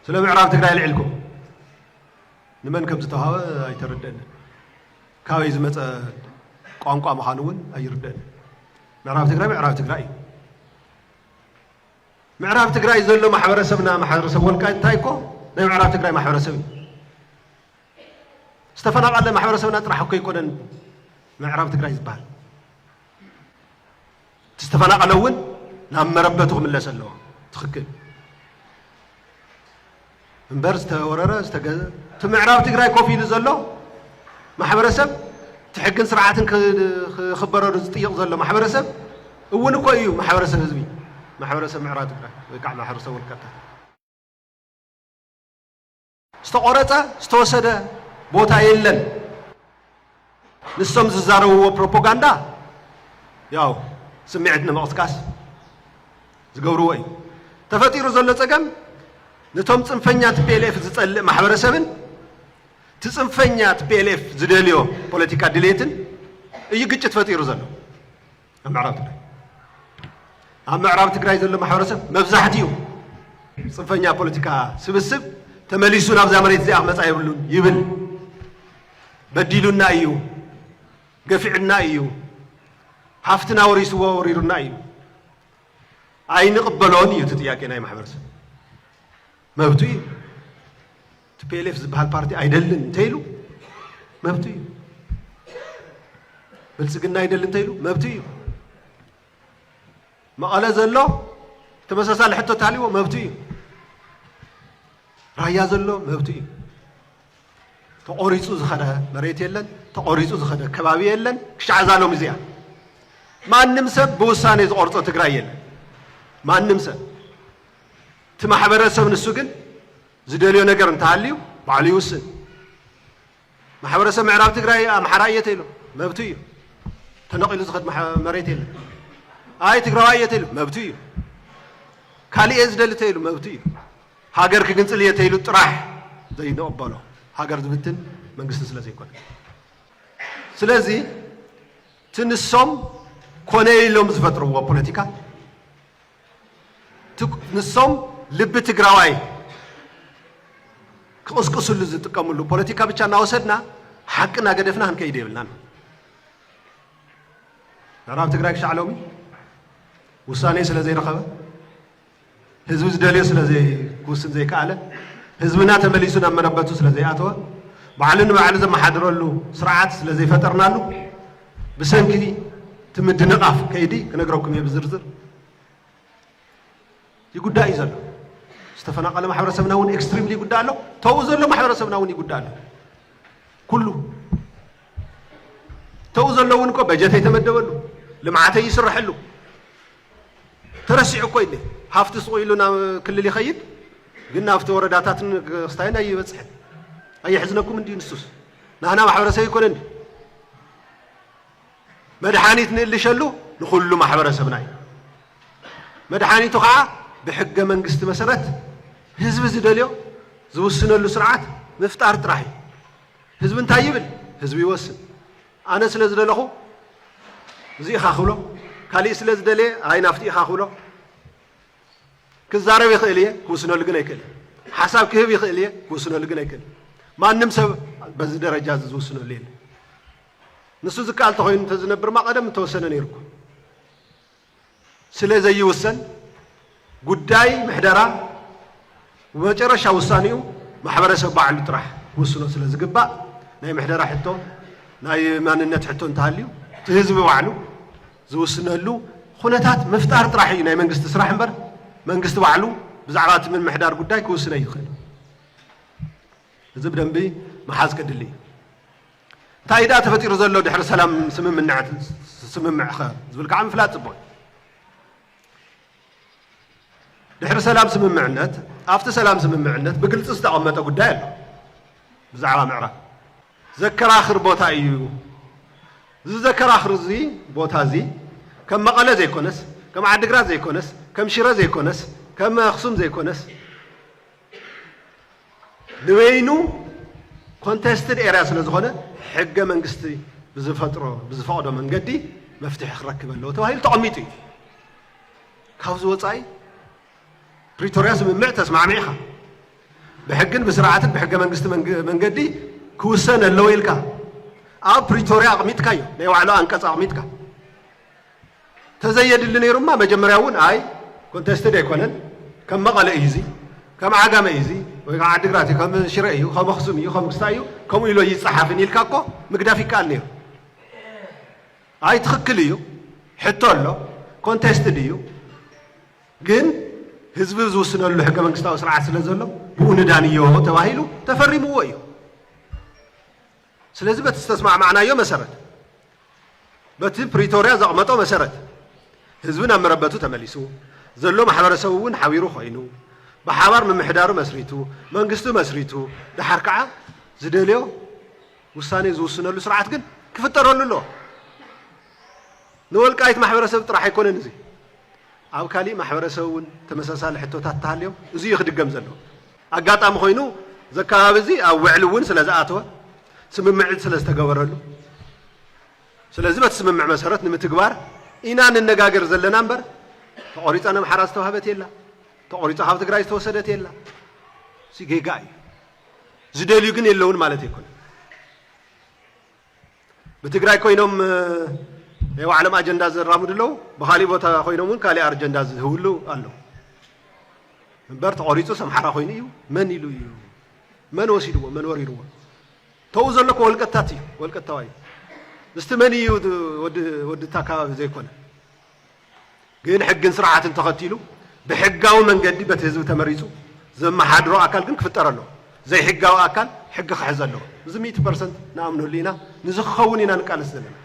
ስለ ምዕራብ ትግራይ ኣልዒልኩም ንመን ከም ዝተውሃበ ኣይተረድእን። ካበይ ዝመፀ ቋንቋ ምዃኑ እውን ኣይርድእን። ምዕራብ ትግራይ ምዕራብ ትግራይ እዩ። ምዕራብ ትግራይ ዘሎ ማሕበረሰብና ማሕበረሰብ ወልቃይት እንታይ እኮ ናይ ምዕራብ ትግራይ ማሕበረሰብ እዩ። ዝተፈናቐለ ማሕበረሰብና ጥራሕ እኮ ኣይኮነን ምዕራብ ትግራይ ዝበሃል። እቲ ዝተፈናቐለ እውን ናብ መረበቱ ክምለስ ኣለዎ። ትኽክል እምበር ዝተወረረ ዝተገዘ እቲ ምዕራብ ትግራይ ኮፍ ኢሉ ዘሎ ማሕበረሰብ እቲ ሕግን ስርዓትን ክኽበረሉ ዝጥይቕ ዘሎ ማሕበረሰብ እውን እኮ እዩ ማሕበረሰብ ህዝቢ ማሕበረሰብ ምዕራብ ትግራይ ወይ ከዓ ማሕበረሰብ ወልቃይታ ዝተቖረፀ ዝተወሰደ ቦታ የለን። ንሶም ዝዛረብዎ ፕሮፖጋንዳ ያው ስምዒት ንምቕስቃስ ዝገብርዎ እዩ። ተፈጢሩ ዘሎ ፀገም ንቶም ፅንፈኛ ቲፒኤልኤፍ ዝፀልእ ማሕበረሰብን እቲ ፅንፈኛ ቲፒኤልኤፍ ዝደልዮ ፖለቲካ ድሌትን እዩ ግጭት ፈጢሩ ዘሎ። ኣብ ምዕራብ ትግራይ ኣብ ምዕራብ ትግራይ ዘሎ ማሕበረሰብ መብዛሕትኡ ፅንፈኛ ፖለቲካ ስብስብ ተመሊሱ ናብዛ መሬት እዚኣ ክመፃ የብሉን ይብል። በዲሉና እዩ፣ ገፊዑና እዩ፣ ሃፍትና ወሪስዎ ወሪሩና እዩ። ኣይንቕበሎን እዩ እቲ ጥያቄ ናይ ማሕበረሰብ መብቱ እዩ። ቲፒኤልኤፍ ዝበሃል ፓርቲ ኣይደልን እንተይሉ መብቱ እዩ። ብልፅግና ኣይደል እንተይሉ መብቱ እዩ። መቐለ ዘሎ ተመሳሳሊ ሕቶ ተሃልዎ መብቱ እዩ። ራያ ዘሎ መብቱ እዩ። ተቖሪፁ ዝኸደ መሬት የለን፣ ተቖሪፁ ዝኸደ ከባቢ የለን። ክሻዕ ዛሎም እዚኣ ማንም ሰብ ብውሳኔ ዝቆርፆ ትግራይ የለን። ማንም ሰብ እቲ ማሕበረሰብ ንሱ ግን ዝደልዮ ነገር እንተሃልዩ ባዕሉ ይውስን። ማሕበረሰብ ምዕራብ ትግራይ ኣምሓራይ እየ ተይሉ መብቱ እዩ። ተነቒሉ ዝኸድ ማሕ- መሬት የለን። ኣይ ትግራዋይ እየ ተይሉ መብቱ እዩ። ካልእ እየ ዝደሊ ተይሉ መብቱ እዩ። ሃገር ክግንፅል እየ ተይሉ ጥራሕ ዘይንቕበሎ ሃገር ዝብትን መንግስቲ ስለ ዘይኮነ ስለዚ እቲ ንሶም ኮነ ኢሎም ዝፈጥርዎ ፖለቲካ ንሶም ልቢ ትግራዋይ ክቕስቅስሉ ዝጥቀምሉ ፖለቲካ ብቻ እናወሰድና ሓቂ እናገደፍና ክንከይድ የብልናን። ምዕራብ ትግራይ ክሻዕ ሎሚ ውሳኔ ስለ ዘይረኸበ ህዝቢ ዝደልዮ ስለ ዘይክውስን ዘይከኣለ ህዝብና ተመሊሱ ናብ መረበቱ ስለ ዘይኣተወ ባዕሉ ንባዕሉ ዘመሓድረሉ ስርዓት ስለ ዘይፈጠርናሉ ብሰንኪ እቲ ምድንቓፍ ከይዲ ክነግረኩም እየ ብዝርዝር ይጉዳእ እዩ ዘሎ ዝተፈናቀለ ማሕበረሰብና እውን ኤክስትሪምሊ ይጉዳእ ኣሎ ተው ዘሎ ማሕበረሰብና እውን ይጉዳእ ኣሎ ኩሉ ተው ዘሎ እውን እኮ በጀት የተመደበሉ ልምዓት ይስረሐሉ ተረሲዑ እኮ ኢለ ሃፍቲ ስቑኢሉ ናብ ክልል ይኸይድ ግን ናብቲ ወረዳታትን ክስታይን ኣይበፅሕን ኣየሕዝነኩም እንዲዩ ንሱስ ናህና ማሕበረሰብ ይኮነን መድሓኒት ንእልሸሉ ንኩሉ ማሕበረሰብና እዩ መድሓኒቱ ከዓ ብሕገ መንግስቲ መሰረት ህዝቢ ዝደልዮ ዝውስነሉ ስርዓት ምፍጣር ጥራሕ እዩ ህዝቢ እንታይ ይብል ህዝቢ ይወስን ኣነ ስለ ዝደለኹ እዚ ኢኻ ክብሎ ካሊእ ስለ ዝደለየ ኣይ ናፍቲ ኢኻ ክብሎ ክዛረብ ይኽእል እየ ክውስነሉ ግን ኣይክእልን። ሓሳብ ክህብ ይኽእል እየ ክውስነሉ ግን ኣይክእልን። ማንም ሰብ በዚ ደረጃ እዚ ዝውስነሉ የለን። ንሱ ዝከኣል ተኮይኑ እንተዝነብርማ ቀደም እንተወሰነ ነይሩ እኮ ስለ ዘይውሰን ጉዳይ ምሕደራ መጨረሻ ውሳኔኡ ማሕበረሰብ ባዕሉ ጥራሕ ክውስኖ ስለ ዝግባእ ናይ ምሕደራ ሕቶ ናይ ማንነት ሕቶ እንተሃልዩ እቲ ህዝቢ ባዕሉ ዝውስነሉ ኹነታት ምፍጣር ጥራሕ እዩ ናይ መንግስቲ ስራሕ እምበር መንግስቲ ባዕሉ ብዛዕባ እቲ ምምሕዳር ጉዳይ ክውስን ኣይኽእልን። እዚ ብደንቢ ምሓዝ ከድሊ እዩ። እንታይ ደኣ ተፈጢሩ ዘሎ ድሕሪ ሰላም ስምምነዕ ስምምዕ ኸ ዝብል ከዓ ምፍላጥ ፅቡቕ እዩ። ድሕሪ ሰላም ስምምዕነት ኣብቲ ሰላም ስምምዕነት ብግልፂ ዝተቐመጠ ጉዳይ ኣሎ ብዛዕባ ምዕራብ ዘከራኽር ቦታ እዩ እዚ ዘከራኽር እዚ ቦታ እዚ ከም መቐለ ዘይኮነስ ከም ዓዲግራት ዘይኮነስ ከም ሽረ ዘይኮነስ ከም ኣክሱም ዘይኮነስ ንበይኑ ኮንተስትድ ኤርያ ስለዝኾነ ሕገ መንግስቲ ብዝፈጥሮ ብዝፈቕዶ መንገዲ መፍትሒ ክረክብ ኣለዎ ተባሂሉ ተቐሚጡ እዩ። ካብዚ ወፃኢ ፕሪቶርያ ስምምዕ ተስማዕሚዕኻ ብሕግን ብስርዓትን ብሕገ መንግስቲ መንገዲ ክውሰን ኣለዎ ኢልካ ኣብ ፕሪቶርያ ኣቕሚጥካዮ ናይ ባዕሉ ኣንቀፅ ኣቕሚጥካ ተዘየድሊ ነይሩማ መጀመርያ እውን ኣይ ኮንተስትድ ኣይኮነን ከም መቐለ እዩ እዚ ከም ዓጋመ እዩ እዚ ወይ ከዓ ዓዲግራት እዩ ከም ሽረ እዩ ከም ኣክሱም እዩ ከም ክስታይ እዩ ከምኡ ኢሎ ይፀሓፍን ኢልካ እኮ ምግዳፍ ይከኣል ነይሩ ኣይ ትኽክል እዩ ሕቶ ኣሎ ኮንቴስትድ እዩ ግን ህዝቢ ዝውስነሉ ሕገ መንግስታዊ ስርዓት ስለ ዘሎ ብኡ ንዳንዮ ተባሂሉ ተፈሪምዎ እዩ ስለዚ በቲ ዝተስማዕማዕናዮ መሰረት፣ በቲ ፕሪቶርያ ዘቕመጦ መሰረት ህዝቢ ናብ መረበቱ ተመሊሱ፣ ዘሎ ማሕበረሰብ እውን ሓቢሩ ኮይኑ፣ ብሓባር ምምሕዳሩ መስሪቱ፣ መንግስቱ መስሪቱ፣ ደሓር ከዓ ዝደልዮ ውሳኔ ዝውስነሉ ስርዓት ግን ክፍጠረሉ ኣለዎ። ንወልቃይት ማሕበረሰብ ጥራሕ ኣይኮነን እዚ ኣብ ካሊእ ማሕበረሰብ እውን ተመሳሳሊ ሕቶታት ተሃልዮም እዚ እዩ ክድገም ዘለዎ። ኣጋጣሚ ኮይኑ እዚ ኣከባቢ እዚ ኣብ ውዕሊ እውን ስለ ዝኣተወ ስምምዕት ስለ ዝተገበረሉ ስለዚ በቲ ስምምዕ መሰረት ንምትግባር ኢና ንነጋገር ዘለና እምበር ተቖሪፃ ነምሓራ ዝተዋህበት የላ ተቖሪፃ ካብ ትግራይ ዝተወሰደት የላ ጌጋ እዩ ዝደልዩ ግን የለውን ማለት ኣይኮነን ብትግራይ ኮይኖም ናይ ባዕሎም ኣጀንዳ ዘራምዱ ኣለዉ፣ ብካሊእ ቦታ ኮይኖም እውን ካሊእ ኣጀንዳ ዝህብሉ ኣለዉ። እምበር ተቖሪፁ ሰምሓራ ኮይኑ እዩ መን ኢሉ እዩ መን ወሲድዎ መን ወሪርዎ ተኡ ዘሎ እኮ ወልቀታት እዩ ወልቀታዋ እዩ እስቲ መን እዩ ወዲ እታ ከባቢ ዘይኮነ ግን ሕግን ስርዓትን ተኸቲሉ ብሕጋዊ መንገዲ በቲ ህዝቢ ተመሪፁ ዘመሓድሮ ኣካል ግን ክፍጠር ኣለዎ። ዘይሕጋዊ ኣካል ሕጊ ክሕዝ ኣለዎ። እዚ ሚእቲ ፐርሰንት ንኣምነሉ ኢና። ንዚ ክኸውን ኢና ንቃለስ ዘለና።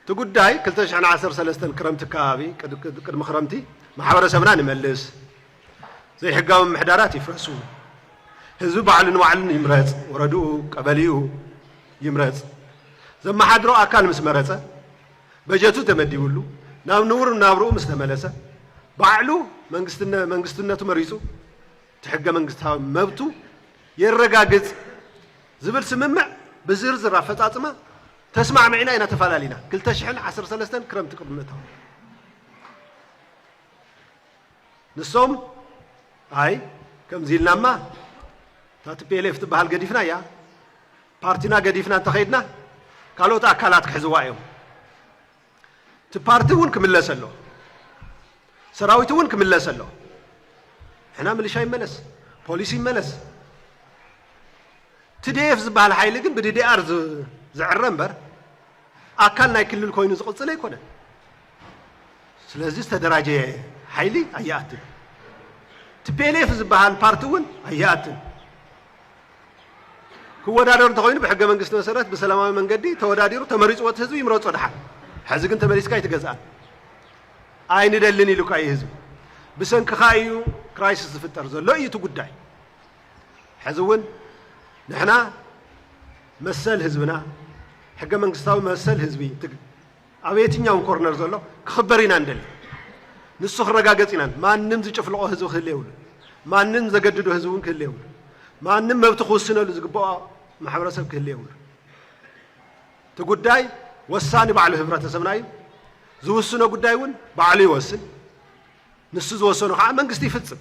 እቲ ጉዳይ ክልተ ሽሕን ዓሰርተ ሰለስተን ክረምቲ ኣከባቢ ቅድሚ ክረምቲ ማሕበረሰብና ንመልስ፣ ዘይሕጋዊ ምምሕዳራት ይፍረሱ፣ ህዝቢ ባዕሉ ንባዕሉ ይምረፅ፣ ወረድኡ፣ ቀበሌኡ ይምረፅ፣ ዘመሓድሮ ኣካል ምስ መረፀ፣ በጀቱ ተመዲብሉ፣ ናብ ንቡር ናብርኡ ምስ ተመለሰ፣ ባዕሉ መንግስትነቱ መሪፁ እቲ ሕገ መንግስታዊ መብቱ የረጋግፅ ዝብል ስምምዕ ብዝርዝር ኣፈፃፅማ ተስማዕሚዕና ኢና ተፈላሊና ክልተ ሽሕን ዓሰርተ ሰለስተን ክረምቲ ቅድሚ ምእታው ንሶም ኣይ ከምዚ ኢልናማ እታ ቲፒኤልኤፍ ትበሃል ገዲፍናያ ፓርቲና ገዲፍና እንተኸይድና ካልኦት ኣካላት ክሕዝዋ እዮም እቲ ፓርቲ እውን ክምለስ ኣሎ ሰራዊት እውን ክምለስ ኣሎ ሕና ምልሻ ይመለስ ፖሊስ ይመለስ ትዲኤፍ ዝበሃል ሓይሊ ግን ብዲዲኣር ዝዕረ እምበር ኣካል ናይ ክልል ኮይኑ ዝቕፅል ኣይኮነን ስለዚ ዝተደራጀየ ሓይሊ ኣይኣትን። ቲፒኤልኤፍ ዝበሃል ፓርቲ እውን ኣይኣትን። ክወዳደር እንተኮይኑ ብሕገ መንግስቲ መሰረት ብሰላማዊ መንገዲ ተወዳዲሩ ተመሪፅዎ እቲ ህዝቢ ይምረፆ ድሓን። ሕዚ ግን ተመሊስካ ኣይትገዝኣን ኣይንደልን ኢሉካ እዩ ህዝቢ። ብሰንክኻ እዩ ክራይሲስ ዝፍጠር ዘሎ እዩ እቲ ጉዳይ። ሕዚ እውን ንሕና መሰል ህዝብና ሕገ መንግስታዊ መሰል ህዝቢ ኣብ የትኛውም ኮርነር ዘሎ ክኽበር ኢና ንደሊ። ንሱ ክረጋገጽ ኢና። ማንም ዝጭፍልቖ ህዝቢ ክህሊ የብሉን። ማንም ዘገድዶ ህዝቢ እውን ክህሊ የብሉን። ማንም መብቱ ክውስነሉ ዝግብኦ ማሕበረሰብ ክህሊ የብሉን። እቲ ጉዳይ ወሳኒ ባዕሉ ህብረተሰብና እዩ። ዝውስኖ ጉዳይ እውን ባዕሉ ይወስን። ንሱ ዝወሰኖ ከዓ መንግስቲ ይፍጽም።